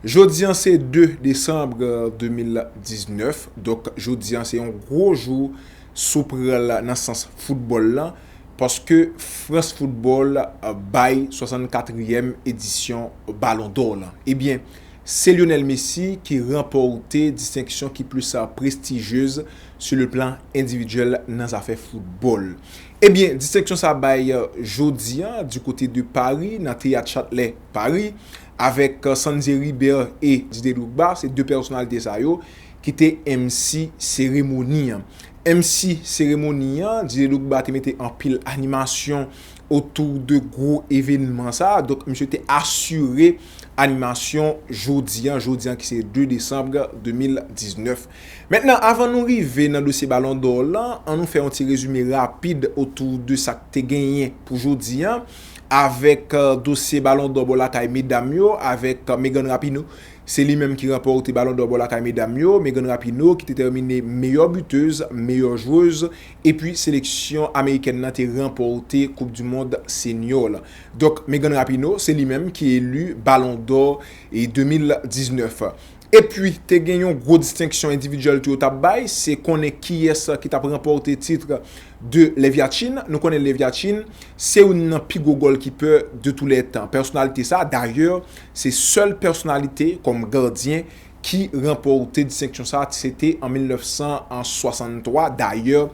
Jodi an se 2 desanm 2019, donk jodi an se yon gwo jou si w pran l nan sans foutbòl lan paske Frans Foutbòl bay 64 rièm edisyon Balon dò lan. Ebyen se Lionel Messi ki ranpòte distenksyon ki plis prestijyez sou le plan endividyèl nan zafè foutbòl. Ebyen distenksyon sa bay jodi an di kote de Pari nan Teyat Chatelet Pari. avèk Sandze Ribert e Dide Drogba se 2 pèsonalite sa yo ki te MC seremoni an. MC seremoni an, Dide Drogba te mete anpil animasyon otou de gwo evenman sa, donk misye te asire animasyon jodi an, jodi an ki se 2 desanm 2019. Mentnan avan nou rive nan dosye balon dò lan, an nou fè yon ti rezime rapid otou de sa k te genyen pou jodi an. avèk dosye balon dò bò lakay medam yo avèk Megan Rapinoe. Se li menm ki ranpòte balon dò bò lakay medam yo, Megan Rapinoe ki te tèmine meyò butez, meyò jwez epi seleksyon amerikèn nan te ranpòte koup du mond senyò la. Donk Megan Rapinoe se li menm ki eli balon dò 2019. Epi te gen yon gwo distenksyon endividyèl tou yo t ap bay, se konnen kiyès ki t ap ranpòte titre de Leviatchine, nou konnen Leviatchine se youn nan pi gwo gòlkipè de tou lè tan. Pèsonalite sa, dayè, se sèl pèsonalite kòm gadyen ki ranpòte distenksyon sa, se te an 1963. Dayè,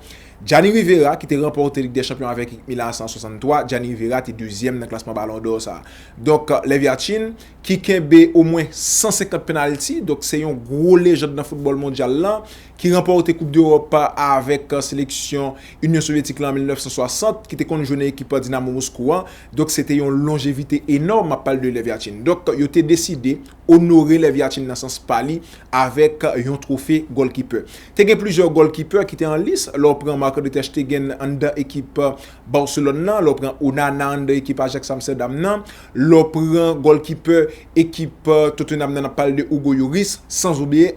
Gianni Rivera ki te ranpòte Lig dè Chanpyon avèk ekip Milan an 1963, Gianni Rivera te dezyèm nan klasman Balon dò sa. Donk, Leviatchine ki kenbe omwen 150 pennalti, donk se yon gwo lejand nan foutbòl mondyal lan ki ranpòte koup dEròp a avèk seleksyon Inyon Sovyetik la an 1960, ki te konn jwe nan ekip Dinamo Moskou an, donk se te yon lonjevite enòm, m ap pale de Lev Yachin. Donk yo te deside onore Lev Yachin nan sans pa li avèk yon twofe gòlkipè. Te gen plizyè gòlkipè ki te an lis, lè w pran Marc-André ter Stegen anndan ekip Barcelone nan, lè w pran Onana anndan ekip Ajax Amsterdam nan, lè w pran gòlkipè ekip Tottenham nan ap pale de Hugo Lloris san oubliye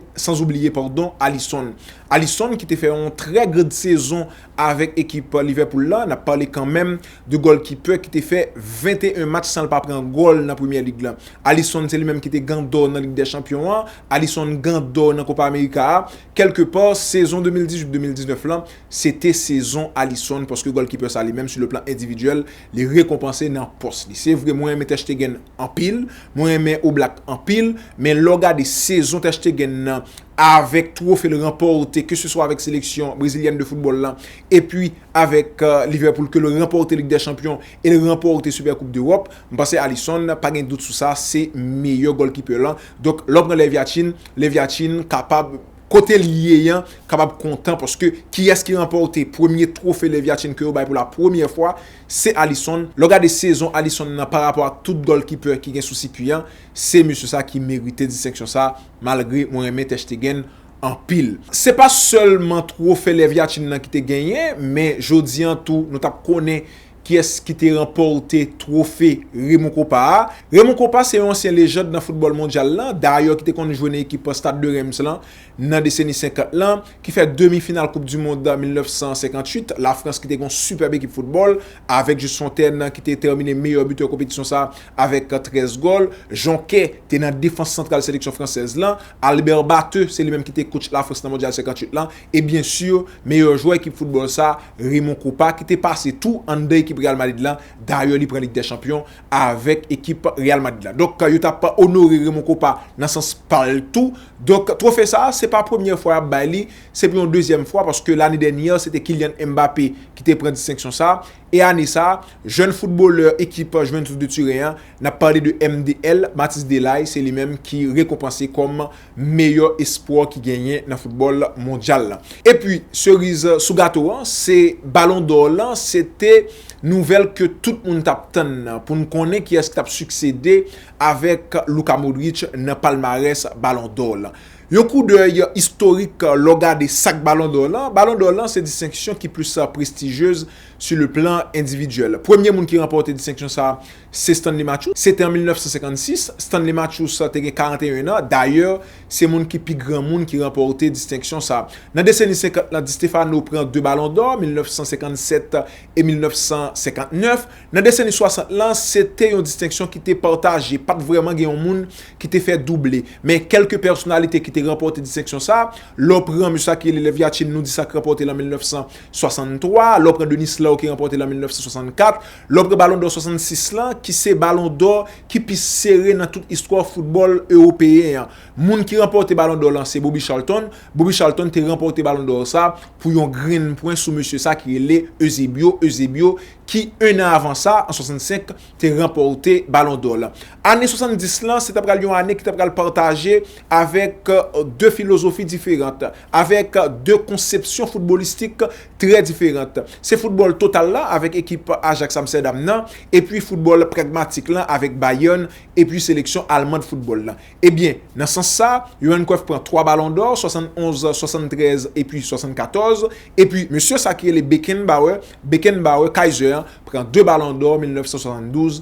Alisson. Alisson ki te fè yon trè grand sezon avèk ekip Liverpool la, n ap pale kanmenm de goalkeeper ki te fè 21 match san l pa pran goal nan Premier League la. Alisson se li menm ki te gan d'or nan Ligue des Champions an, Alisson gan d'or nan Copa America a, kèlke pa sezon 2018-2019 lan se te sezon Alisson paske goalkeeper sa li menm sou le plan endividyèl Li rekonpanse nan pòs li. Se vre mwen renmen Terstegen anpil, mwen renmen Oblak anpil, men lè w gade sezon Terstegen nan avèk twofe l ranpòte ke se swa avèk seleksyon brezilyèn de foutbòl la epi avèk Liverpool ke l ranpòte Lig dè Chanpyon e l ranpòte Super Koup Dewòp, m panse Alisson pa gen dout sou sa se meyè gòlkipè lan. Donk lè w pran Lèvyatchin, Lèvyatchin kapab Kote li ye an kapab kontan paske kiyès ki ranpòte premye twofe Lev Yachine ke yo bay pou la premyè fwa, se Alisson. Lè w gade sezon Alisson nan pa rapò ak tout gòlkipè ki gen sou sikui an, se mesye sa ki merite distenksyon sa malgre mwen renmen Ter Stegen anpil. Se pa sèlman twofe Lev Yachine nan ki te genyen men jodi an tou nou t ap konnen Kiyès ki te ranpòte twofe Raymond Kopa a? Raymond Kopa se yon ansyen lejand nan foutbòl mondyal lan, dayè ki te konn jwe nan ekip an Stade de Reims lan nan deseni 50 lan, ki fè demi final koup du mond 1958, la Frans ki te gen yon sipèb ekip foutbòl, avèk Just Fontaine ki te tèmine meyè bitè konpetisyon sa avèk 13 gòl, Jonquet te nan defans santral seleksyon fransèz lan, Albert Batheu se li menm ki te kotch la Frans nan mondyal 58 lan. E byen sur, meyè jwè ekip foutbòl sa, Raymond Kopa, ki te pase tou anndan ekip Real Madrid la, dayè li pran Lig dè Chanpyon avèk ekip Real Madrid la. Donk yo tap onore Raymond Kopa nan sans pa l tou. Donk twofe sa, se pa premyè fwa yap bay li, se pou yon dezyèm fwa paske lane dènyè se te Kylian Mbappé ki te pran distenksyon sa. E ane sa, jèn foutbolè ekip Juventus de Turen an, nap pale de MDL, Mathys Delay, se li menm ki rekonpanse kòm. meyè espwa ki genyen nan foutbòl mondyal la. Epi seriz sou gato an se balon dò lan se te nouvèl ke tout moun t ap tann nan pou n konnen kiyès ki t ap siksede avèk Luka Modric nan palmarès balon dò lan. Yon koudèy istorik lè w gade sak balon dò lan, balon dò lan se distenksyon ki plis prestijyez su le plan endividyèl. Premye moun ki ranpòte distenksyon sa Se Stanley Matthews. Se te an 1956. Stanley Matthews te gen 41 an. Dayè, se moun ki pi granmoun ki ranpòte distenksyon sa. Nan deseni 50 lan, Di Stefano pran 2 Balon dò, 1957 e 1959. Nan deseni 60 lan, se te yon distenksyon ki te pataje, pa t vrèman gen yon moun ki te fè double. Men, kèlke pèsonalite ki te ranpòte distenksyon sa, lè w pran mesye sa ki rele Lev Yachin, nou di sa ki ranpòte l an 1963, lè w pran Denis Lau ki ranpòte l an 1964, Lò pre Balon dò 66 lan, ki se Balon dò ki pi sere nan tout istwa foutbòl ewopeyen an. Moun ki ranpòte Balon dò lan se Bobby Charlton. Bobby Charlton te ranpòte Balon dò sa pou yon grenn pwen sou mesye sa ki rele Eusebio, Eusebio, ki 1 an avan sa, an 65, te ranpòte Balon dò lan. Ane 70 lan, se ta pral yon ane ki ta pral pataje avèk 2 filozofi diferant. avèk 2 konsepsyon foutbolistik trè diferant. Se foutbòl total la avèk ekip Ajax Amsterdam nan epi foutbòl pragmatik lan avèk Bayern epi seleksyon alman de foutbòl lan. Ebyen, nan sans sa, Johan Cruyff pran 3 balon dò, 71, 73 epi 74, epi mesye sa ki rele Beckenbauer, Bekenbawe, Kaiser, pran 2 balon dò, 1972,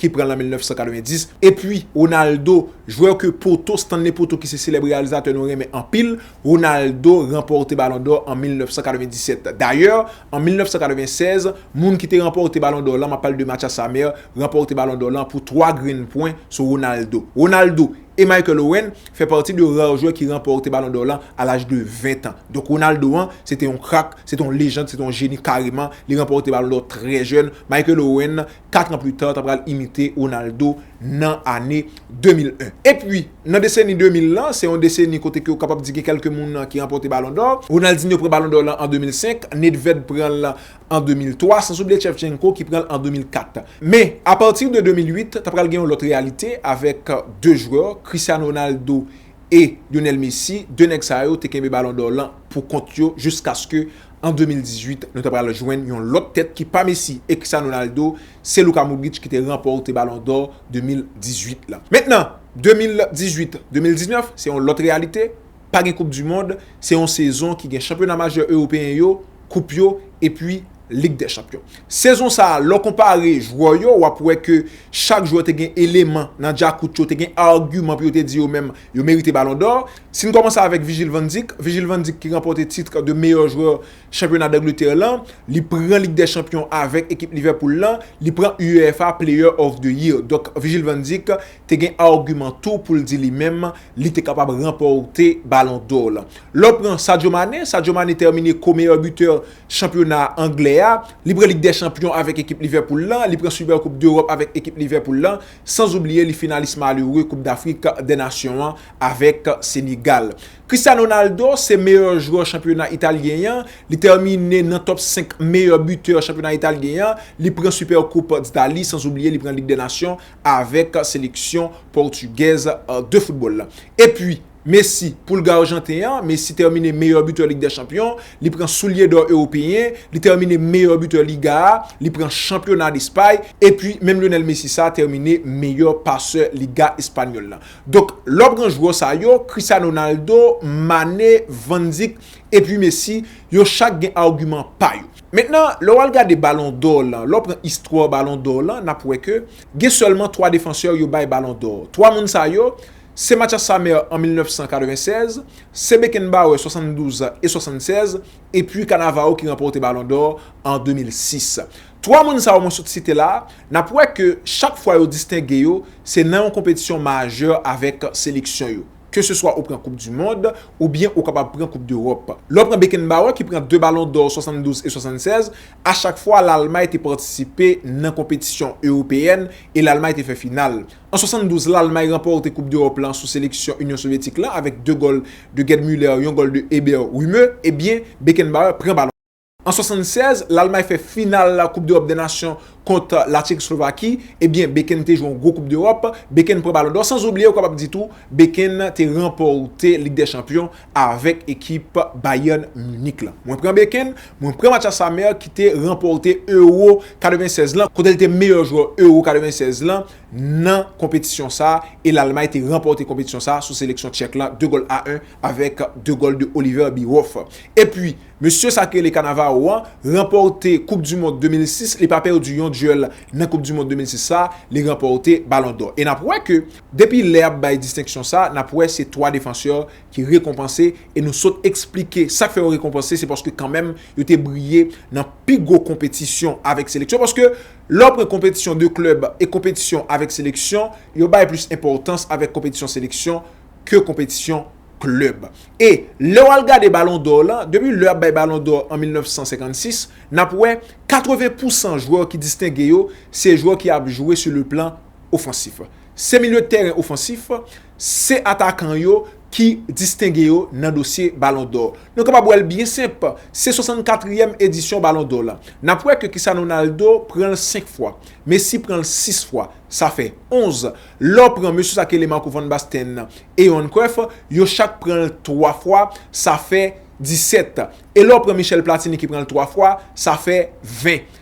ki pran l an 1990, epi Ronaldo, jwè ke poto, Stanley Poto ki se selèb reyalizatè nou renmen anpil, Ronaldo ranpòte Balon dò an 1997. Dayè, an 1996, moun ki te ranpòte Balon dò lan, m ap pale de Matya Samer, ranpòte Balon dò lan pou 3 grenn pwen sou Ronaldo. Ronaldo e Michael Owen fè pati de rar jwè ki ranpòte Balon dò lan a laj de 20 tan. Donk Ronaldo an, se te yon krak, se te yon lejand, se te yon jeni kareman, li ranpòte Balon dò trè jèn, Michael Owen, 4 ans plus tard ta pral imite Ronaldo nan ane 2001. Epi, nan deseni 2000 lan, se yon deseni kote ke ou kapab di gen kèlke moun ki ranpòte Ballon d'Or. Ronaldinho pran Ballon d'Or lan an 2005, Nedved pran l an 2003, sans oubliye Shevchenko ki pran l an 2004. Men, a partir de 2008, ta pral gen yon lòt reyalite avèk 2 jwè, Cristiano Ronaldo e Lionel Messi, 2 nèg sa yo te kenbe Ballon d'Or lan pou kont yo jiskaske an 2018 nou ta pral jwenn yon lòt tèt ki pa Messi e Cristiano Ronaldo, se Luka Modric ki te ranpòte Balon dò 2018 la. Mentnan, 2018, 2019 se yon lòt reyalite, pa gen koup di mond, se yon sezon ki gen chanpyona majè ewopeyen yo, koup yo epi Lig dè Chanpyon. Sezon sa a, lè w konpare jwè yo, w ap wè ke chak jwè te gen eleman nan djakout yo, te gen agiman pou yo te di yo menm, Yo merite balon dò. Si n kòmanse avèk Vijil van Dik, Vijil van Dik ki ranpòte titre de meyè jwè chanpyona Dangletè lan, li pran Lig dè Chanpyon avèk ekip Livèpoul lan, li pran UEFA Player of the Year. Donk Vijil van Dik te gen agiman tou pou l di li menm li te kapab ranpòte balon dò lan. Lè w pran Sadio Mane, Sadio Mane tèmine ko meyè bitè chanpyona anglè a, li pran Lig dè Chanpyon avèk ekip Livèpoul lan, li pran Supercoupe d'Europe avèk ekip Livèpoul lan. San zoubliye li finalis malere koup dafrik dè nasyon an avèk Senegal. Cristiano Ronaldo se meyè jwè chanpyona italyen an, li tèmine nan top 5 meyè bitè chanpyona italyen an, li pran Super koup d'Italie san zoubliye li pran lig dè nasyon avèk seleksyon pòtigèz de foutbòl lan. Epi. Messi, Pulga Arjanten an, Messi tèmine meyè bitè Lig dè Chanpyon, li pran soulye dò Ewopeyen, li tèmine meyè bitè Liga a, li pran Chanpyona Despay, epi menm Lionel Messi sa tèmine meyè pasè Liga Espanyòl la. Donk, lè w pran jwè sa yo, Cristiano Ronaldo, Mané, Van Dijk, epi Messi, yo chak gen agiman pa yo. Mentnan, lè w al gade Balon dò lan, lè w pran istwa Balon dò lan, n ap wè ke gen sèlman twa defansè yo bay Balon dò. Twa moun sa yo, Se Mathias Samer an 1996, se Beckenbauer 72 e 76, epi Cannavaro ki ranpòte Balon dò an 2006. Twa moun sa yo mwen sot site la, n ap wè ke chak fwa yo distenge yo, se nan yon konpetisyon majè avèk seleksyon yo. Keseswa ou pran koup di mond, oubyen ou kapab pran koup dEròp. Lè w pran Beckenbauer ki pran 2 Balon dò 72 e 76, a chak fwa Lalmay te patisipe nan konpetisyon ewopeyèn e Lalmay te fè final. An 72, Lalmay ranpòte koup dEròp lan sou seleksyon Inyon Sovyetik lan avèk 2 gòl de Gerd Müller, yon gòl de Eber Rühme e byen Beckenbauer pran balon. An 76, Lalmay fè final koup dEròp dè Nasyon kont La Tchekoslovaki e byen Beken te jwe yon gwo koup dEròp, Beken pran balon dò, san oubliye ou kapab di tou Beken te ranpòte Lig dè Chanpyon avèk ekip Bayern Munich lan. Mwen pran beken, mwen pran Mathias Sammer ki te ranpòte Euro 96 lan kote li te meyè jwè Euro 96 lan nan konpetisyon sa e Lalmay te ranpòte konpetisyon sa sou seleksyon Tchèk lan 2 gòl a 1 avèk 2 gòl de Oliver Bierhoff. Epi, mesye sa ki rele Cannavaro an ranpòte koup du mond 2006, li pa pèdi yon duèl nan koup du mond 2006 sa, li ranpòte Ballon d'or. E n ap wè ke Depi lè ap bay distenksyon sa, nap wè se 3 defansè ki rekonpanse e nou sot eksplike sak fè yo rekonpanse se paske kanmenm yo te briye nan pi gwo konpetisyon avèk seleksyon paske lè w pran konpetisyon de klèb e konpetisyon avèk seleksyon yo bay plis enpòtans avèk konpetisyon seleksyon ke konpetisyon klèb e lè w al gade balon dò lan depi lè ap bay balon dò an 1956 nap wè 80 pousan jwè ki distenge yo se jwè ki ap jwe sou le plan ofansif. Se milye tèren ofansif, se atakan yo ki distenge yo nan dosye Balon Dò. Nou kapab wè l byen senp, se 64 ryèm edisyon Balon Dò la. N ap wè ke Cristiano Ronaldo pran l 5 fwa, Messi pran l 6 fwa, sa fè 11. Lè w pran mesye sa ki rele Marco Van Basten e Johan Cruyff, yo chak pran l 3 fwa, sa fè 17. E lè w pran Michel Platini ki pran l 3 fwa, sa fè 20.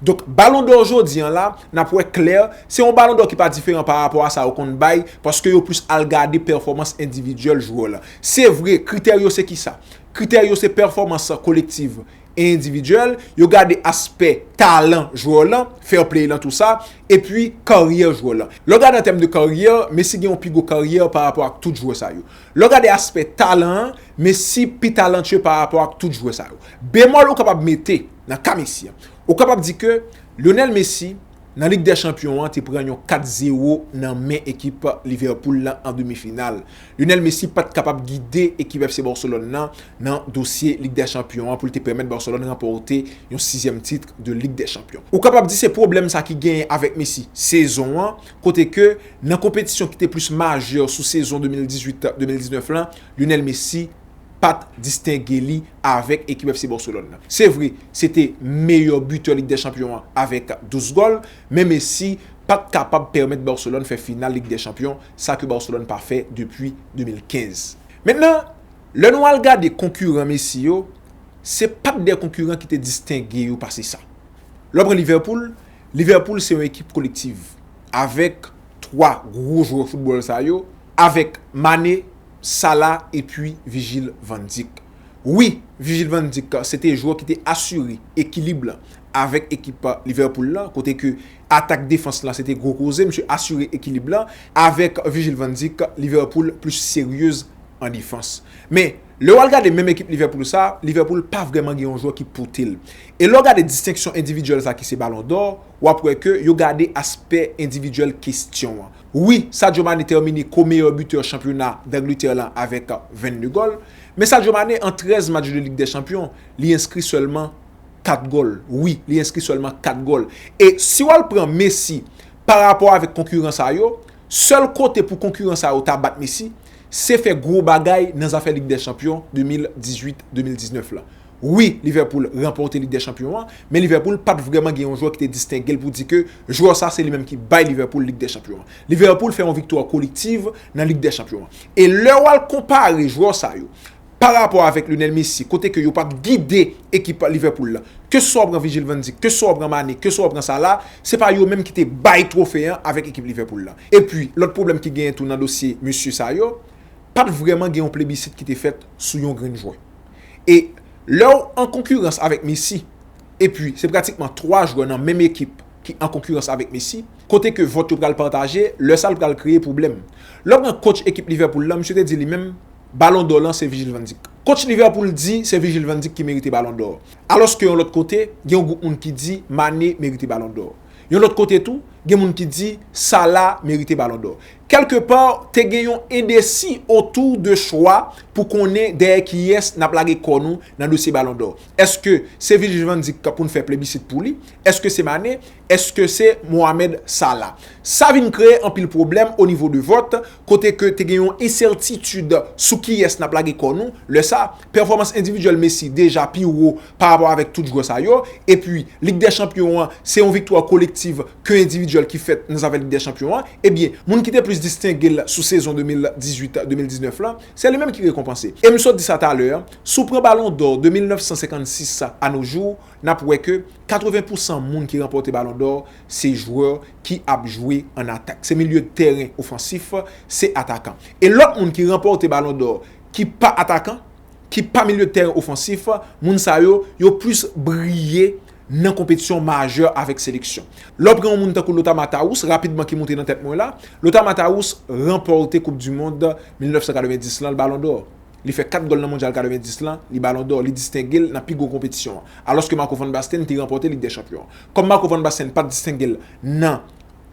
Donk balon dò jodi an la, n ap wè klè, se yon balon dò ki pa diferan pa rapò a sa yo konn bay, paske yo plis al gade pèfòmans endividyèl jwè la. Se vre, kritè yo se ki sa? Kritè yo se pèfòmans kolektiv e endividyèl, yo gade aspè talan jwè lan, fair play lan tou sa, epi karyè jwè lan. Lè w gade an tèm de karyè, Messi gen yon pi gwo karyè pa rapò ak tout jwè sa yo. Lè w gade aspè talan an, Messi pi talantyè pa rapò ak tout jwè sa yo. Bemòl ou kapab mete. nan ka Messi an. Ou kapab di ke Lionel Messi nan Lig dè Chanpyon an te pran yon 4 zero nan men ekip Liverpool lan an demi final. Lionel Messi pat kapab gide ekip FC Barcelone lan nan dosye Lig dè Chanpyon an pou l te pèmèt Barcelone ranpòte yon sizyèm titre de Lig dè Chanpyon. Ou kapab di se pwoblèm sa ki genyen avèk Messi sezon an kote ke nan konpetisyon ki te plis majè sou sezon 2018, 2019 lan Lionel Messi pat distenge li avèk ekip FC Barcelone nan. Se vre, se te meyè bitè Lig dè Chanpyon an avèk 12 gòl, men Messi pat kapab pèmèt Barcelone fè final Lig dè Chanpyon, sa ke Barcelone pa fè depi 2015. Mentnan, lè nou al gade konkiran Messi yo, se pat de konkiran ki te distenge yo pase sa. Lè w pran Liverpool, Liverpool se yon ekip kolektiv, avèk 3 gwo jwè foutbòl sa yo, avèk Mane, Salah epi Vigil van Dijk. Wi, Vigil van Dijk se te jwè ki te asire ekilib lan avèk ekip Liverpool lan kote ke atak defans lan se te gwo koze, misye asire ekilib lan. Avèk Vigil van Dijk, Liverpool plis seryez an defans. Men, lè w al gade menm ekip Liverpool sa, Liverpool pa vrèman gen yon jwè ki pote l. E lè w gade distenksyon endividyèl sa ki se Ballon d'Or, w ap wè ke yo gade aspè endividyèl kestyon an. Wi, Sadio Mané tèmine ko meyè bitè chanpyona Dangletè lan avèk 22 gòl, men Sadio Mané an 13 match de Lig dè Chanpyon, li enskri sèlman 4 gòl. Wi, li enskri sèlman 4 gòl. E si w al pran Messi pa rapò avèk konkiran sa yo, sèl kote pou konkiran sa yo ta bat Messi, se fè gwo bagay nan zafè Lig dè Chanpyon 2018, 2019 lan. Wi, Liverpool ranpòte Lig dè Chanpyon an, men Liverpool pat vrèman gen yon jwè ki te distenge l pou di ke jwè sa se li menm ki bay Liverpool Lig dè Chanpyon an. Liverpool fè yon viktwa kolektiv nan Lig dè Chanpyon an. E lè w al konpare jwè sa yo parapò avèk Lionel Messi kote ke yo pa p gide ekip Liverpool la, keseswa w pran Virgil van Dijk, keseswa w pran Mané, keseswa w pran Salah, se pa yo menm ki te bay twofe an avèk ekip Liverpool la. Epi, lòt pwoblèm ki genyen tou nan dosye mesye sa yo, pat vrèman gen yon plebisit ki te fèt sou yon grenn jwè. E lè w an konkirans avèk Messi, epi se pratikman 3 jwè nan menm ekip ki an konkirans avèk Messi, kote ke vòt yo pral pataje, lè sa l pral kreye pwoblèm. Lè w pran kotch ekip Liverpool lan, misye te di li menm, Balon dò lan se Vigil van Dijk. Kotch Liverpool di se Vigil van Dijk ki merite Balon dò. Alòske yon lòt kote, gen yon gwoup moun ki di Mane merite Balon dò. Yon lòt kote tou, gen moun ki di Salah merite Balon dò. Kèlke pa, te gen yon endesi otou de chwa pou konnen dèyè kiyès n ap lage kò nou nan dosye Balon dò. Èske se Virgil van Dijk k pou n fè plebisit pou li? Èske se Mané? Èske se Mohamed Salah? Sa vin kreye anpil pwoblèm onivo de vòt, kote ke te gen yon ensètitid sou kiyès n ap lage kò nou. Lè sa, pèfòmans endividyèl Messi deja pi wo pa rapò avèk tout jwè sa yo, epi lig dè chanpyon an se yon viktwa kolektiv ke endividyèl ki fèt nan zafè lig dè chanpyon an, ebyen moun ki te plis distenge l sou sezon 2018, 2019 lan, se li menm ki rekonpanse. E m sot di sa talè an, si w pran balon dò de 1956 a no jou, n ap wè ke 80 pou san moun ki ranpòte balon dò se jwè ki ap jwe an atak, se milye de tèren ofansif, se atakan. E lòt moun ki ranpòte balon dò ki pa atakan, ki pa milye tèren ofansif, moun sa yo, yo plis briye nan konpetisyon majè avèk seleksyon. Lè w pran yon moun tankou Lothar Matthaus, rapidman ki monte nan tèt mwen la, Lothar Matthaus ranpòte koup dimond 1990 lan, l balon dò. Li fè 4 gòl nan mondyal 90 lan, li balon dò, li distenge l nan pi gwo konpetisyon an. Alòske Marco Van Basten te ranpòte Lig dè chanpyon an. Kòm Marco Van Basten pa t distenge l nan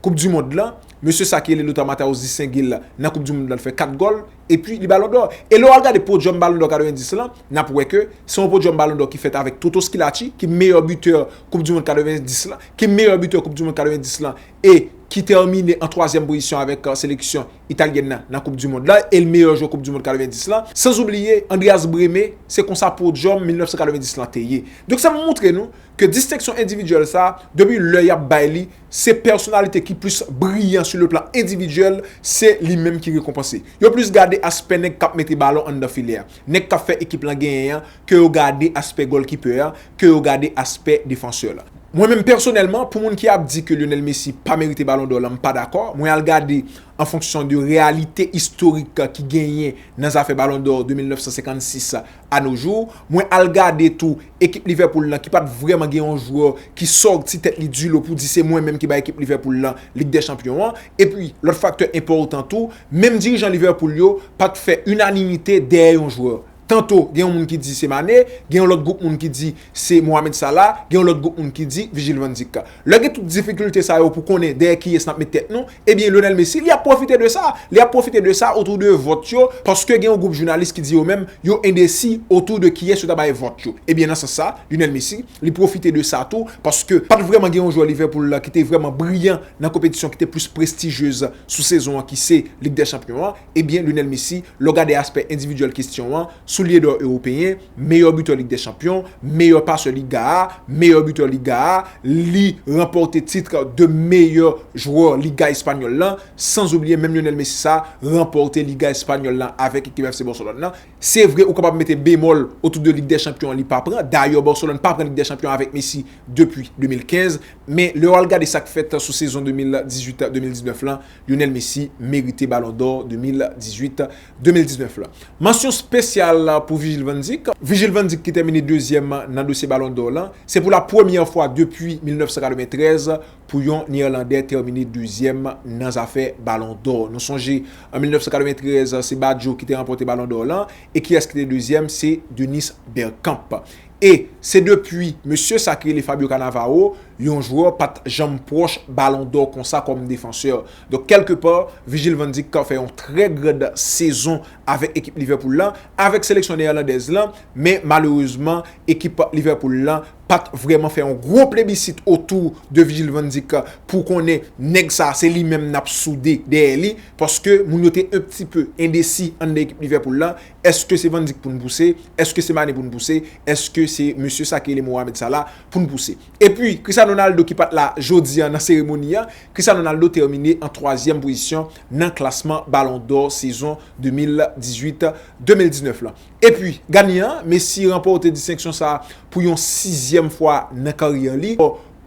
koup du mond lan, mesye sa ki rele Lothar Matthäus distenge l nan koup du mond lan, l fè 4 gòl, epi li balon dò. E lè w al gade podyòm balon dò 90 lan, n ap wè ke se yon podyòm balon dò ki fèt avèk Toto Schillaci ki meyè bitè koup du mond 90 lan, ki meyè bitè koup du mond 90 lan e ki tèmine an twazyèm pozisyon avèk seleksyon italyèn nan nan koup du mond lan e l meyè jwè koup du mond 90 lan, sanzoubliye Andreas Brehme, se konsa podyòm 1990 lan te ye. Donk sa moutre nou ke distenksyon endividyèl sa, depi lè y ap bay li, Se pèsonalite ki plis briyan sou le plan endividyèl, se li menm ki rekonpanse. Yo plis gade aspè nèg k ap mete balon anndan filè a, nèg k ap fè ekip lan genyen an, ke yo gade aspè gòlkipè a, ke yo gade aspè defansè la. Mwen menm pèsonèlman, pou moun ki ap di ke Lionel Messi pa merite balon dò lan, m pa dakò. Mwen al gade an fonksyon de reyalite istorik ki genyen nan zafè balon dò de 1956 a no jou, mwen al gade tou ekip Liverpool lan ki pat vrèman gen yon jwè ki sòti tèt li di lo pou di se mwen menm ki bay ekip Liverpool lan Lig dè Chanpyon an, epi lòt faktè enpòtan tou, menm dirijan Liverpool yo pat fè inanimite dèyè yon jwè. Tanto gen yon moun ki di se Mané, gen yon lòt gwoup moun ki di se Mohamed Salah, gen yon lòt gwoup moun ki di Virgil van Dijk. Lè gen tout difikilte sa yo pou konnen dèyè kiyès nap met tèt nou, Ebyen Lionel Messi li ap pwofite de sa, li ap pwofite de sa otou de vòt yo paske gen yon gwoup jounalis ki di yo menm yo endesi otou de kiyès yo ta bay vòt yo. Ebyen nan sans sa Lionel Messi li pwofite de sa tou paske pat vrèman gen yon jwè Liverpool la ki te vrèman briyan nan konpetisyon ki te plis prestigyez sou sezon an ki se Lig dè chanpyon an. Ebyen Lionel Messi, lè w gade aspè endividyèl kestyon an, soulye dò ewopeyen, meyè bitè lig dè chanpyon, meyè pasè liga a, meyè bitè liga a, li ranpòte titr de meyè jwè liga espanyòl lan, sanzoubliye menm Lionel Messi sa ranpòte liga espanyòl lan avèk ekip FC Barcelone lan. Se vre ou kapab mete bemòl otou de lig dè chanpyon an li pa pran, dayè Barcelone pa pran lig dè chanpyon avèk Messi depi 2015, men lè w al gade sa k fèt sou sezon 2018, 2019 lan, Lionel Messi merite Ballon d'Or 2018, 2019 la. Mansyon spesyal pou Virgil van Dijk. Virgil van Dijk ki tèmine dezyèm nan dosye Ballon d'Or lan. Se pou la premyè fwa depi 1993 pou yon Neerlandè tèmine dezyèm nan zafè Ballon d'Or. Nou sonje an 1993 se Badjo ki te ranpòte Ballon d'Or lan e kiyès ki te dezyèm se Dennis Bergkamp. e se depi mesye sa ki rele Fabio Cannavaro yon jwè pat janm pwòch balon dò konsa kòm defansè. Donk kèlke pa Virgil van Dijk ka fè yon trè grand sezon avèk ekip Liverpool lan, avèk seleksyon Neyèlandèz lan, men malerezman ekip Liverpool lan pat vrèman fè yon gwo plebisit otou de Virgil van Dijk pou konnen nèg sa se li menm nap soude dèyè li paske moun yo te un pti peu endesi anndan ekip Liverpool lan Eske se Van Dijk pou n pouse? Eske se Mané pou n pouse? Eske se mesye sa ki rele Mohamed Salah pou n pouse? Epi, Cristiano Ronaldo ki pa t la jodi an nan seremoni an, Cristiano Ronaldo tèmine an twazyèm pozisyon nan klasman Ballon d'Or sezon 2018, 2019 lan. Epi, ganyan an, Messi ranpòte distenksyon sa a pou yon sizyèm fwa nan karyè li.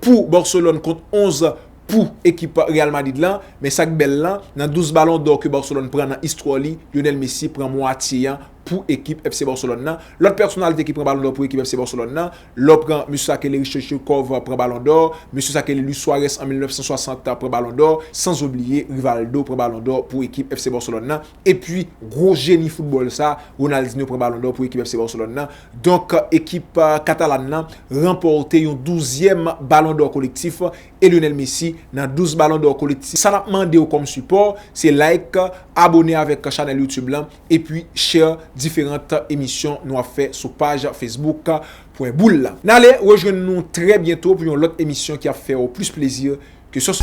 Pou Barcelone kont 11 pou ekip Real Madrid lan, men sak bèl lan, nan 12 balon dò ke Barcelone pran nan istwa li, Lionel Messi pran mwatye an pou ekip FC Barcelone lan. Lòt pèsonalite ki pran balon dò pou ekip FC Barcelone lan, lè w pran mesye sa ke le Risto Stoichkov pran balon dò, mesye sa ke le Luis Suarez an 1960 pran balon dò, sans oubliye Rivaldo pran balon dò pou ekip FC Barcelone lan, epi gwo jeni foutbòl sa, Ronaldinho pran balon dò pou ekip FC Barcelone lan. Donk ekip Katalan lan ranpòte yon 12 zyèm balon dò kolektif e Lionel Messi nan 12 balon dò kolektif sa nap mandew kòm sipò se like abone avèk chanèl youtube lan epi share diferant emisyon nou ap fè sou paj facebook pwen boul la nale rejwenn nou trè byento pou yon lòt emisyon ki ap fèw plis plezi ke sos.